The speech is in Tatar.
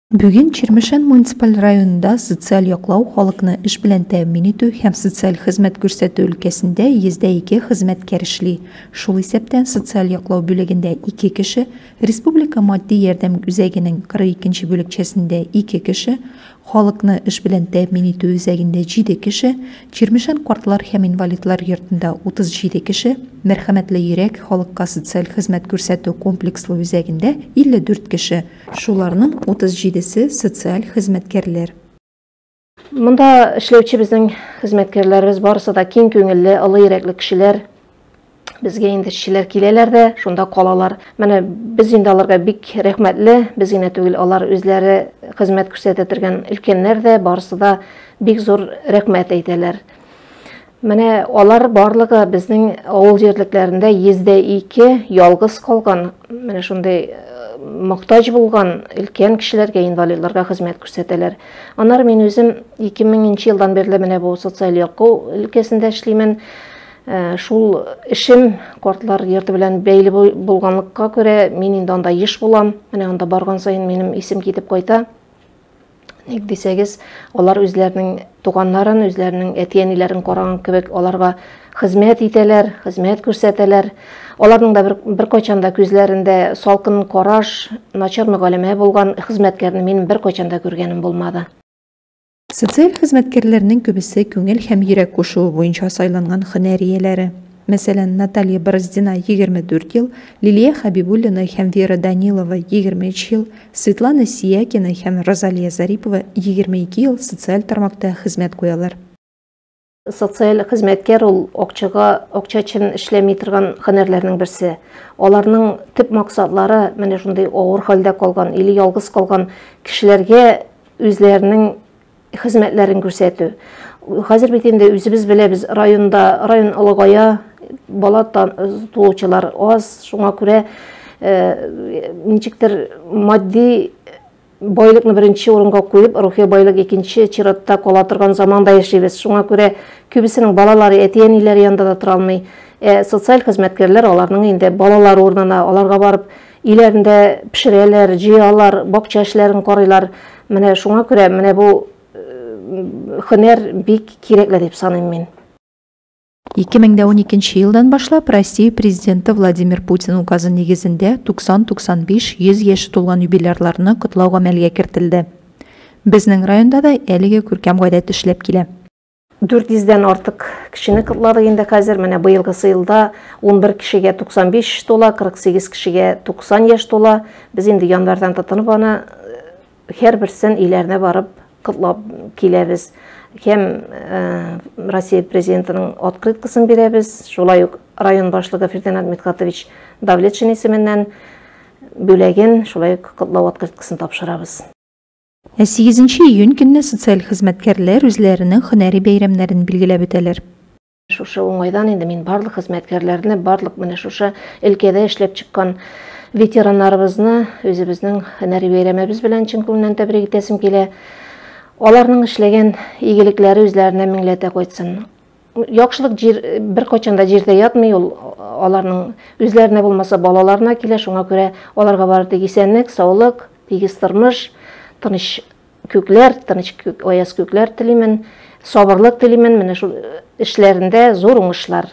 Бүген Чирмешән муниципаль районында социаль яклау, халыкны эш белән тәэмин итү һәм социаль хезмәт күрсәтү өлкәсендә 102 хезмәткәр эшли. Шул исәптән социаль яклау бүлегендә 2 кеше, республика матди ярдәм үзәгенең 42 нче бүлекчәсендә 2 кеше, Халыкны эш белән тәэмин итү үзәгендә җиде кеше, Чирмешән картлар һәм инвалидлар йортында 37 кеше, Мәрхәмәтле йөрәк халыкка социаль хезмәт күрсәтү комплекслы үзәгендә 54 кеше, шуларның 37 се социаль хезмәткәрләр. Монда эшләүче безнең хезмәткәрләребез барысы да киң күңелле, олы йөрәкле кешеләр. Безгә инде эшчеләр киләләр дә, шунда калалар. Менә без инде аларга бик рәхмәтле. Без генә түгел, алар үзләре хезмәт күрсәтә торган өлкәннәр дә, барысы да бик зур рәхмәт әйтәләр. Менә алар барлыгы безнең авыл җирлекләрендә 102 ялгыз калган, менә шундый мохтаҗ булган өлкән кешеләргә, инвалидларга хезмәт күрсәтәләр. Аннары мин үзем 2000 елдан бирле менә бу социаль яклау өлкәсендә эшлимен. Ә, шул эшем картлар йорты белән бәйле булганлыкка күрә, мин инде анда еш булам. Менә анда барган саен минем исем китеп кайта. Ник дисәгез, алар үзләренең туганнарын, үзләренең әти-әниләрен караган кебек аларга хезмәт итәләр, хезмәт күрсәтәләр. Аларның да бер, бер кайчан да күзләрендә салкын караш, начар мөгаләмә булган хезмәткәрне мин бер кайчан да күргәнем булмады. Социаль хезмәткәрләрнең күбесе күңел һәм йөрәк кушуы буенча сайланган һөнәр ияләре. Мәсәлән, Наталья Бороздина, 24 ел, Лилия Хәбибуллина һәм Вера Данилова, 23 ел, Светлана Сиякина һәм Розалия Зарипова, 22 ел, социаль тармакта хезмәт куялар. Социаль хезмәткәр ул акчага акча өчен эшләми торган һөнәрләрнең берсе. Аларның төп максатлары менә шундый авыр хәлдә калган или ялгыз калган кешеләргә үзләренең хезмәтләрен күрсәтү. Хәзер бит инде үзебез беләбез, районда район олыгая, бала туучылар аз, шуңа күрә э, ничектер матди Байлыкны беренче урынга куеп, рухи байлык икенче чиратта кала торган заманда яшибез. Шуңа күрә күбесенең балалары әти-әниләре янында да тора алмый. Ә социаль хезмәткәрләр аларның инде балалары урынына, аларга барып, өйләрендә пешерәләр, җыялар, бакча эшләрен карыйлар. Менә шуңа күрә менә бу хөнәр бик кирәкле дип саныйм мин. 2012 елдан башлап Россия Президенты Владимир Путин указы нигезендә 90-95-100 яше тулган юбилярларны котлау гамәлгә кертелде. Безнең районда да әлеге күркәм гадәт эшләп килә. 400 дән артык кешене котладык инде хәзер. Менә быелгысы елда 11 кешегә 95 яшь тула, 48 кешегә 90 яшь тула. Без инде январьдан тотынып аны Һәрберсен өйләренә барып котлап киләбез. Һәм э, Россия президентының открыткасын бирәбез. Шулай ук район башлыгы Фердинанд Митхатович Давлетшин исеменнән бүләген, шулай ук котлау открыткасын тапшырабыз. Ә 8 июнь көнне социаль хезмәткәрләр үзләренең һөнәри бәйрәмнәрен билгеләп үтәләр. Шушы уңайдан инде мин барлык хезмәткәрләрне, барлык менә шушы өлкәдә эшләп чыккан ветераннарыбызны үзебезнең һөнәри бәйрәмебез белән чын күңелдән тәбрик итәсем килә. Аларның эшләгән игелекләре үзләренә меңләтә кайтсын. Яхшылык җир беркайчан да җирдә ятмый ул. Аларның үзләренә булмаса балаларына килә, шуңа күрә аларга бары тик исәнлек, саулык, тигез тормыш, тыныч Күкләр, тыныч күк, аяз күкләр телимен, сабырлык телимен, менә шул эшләрендә зур уңышлар.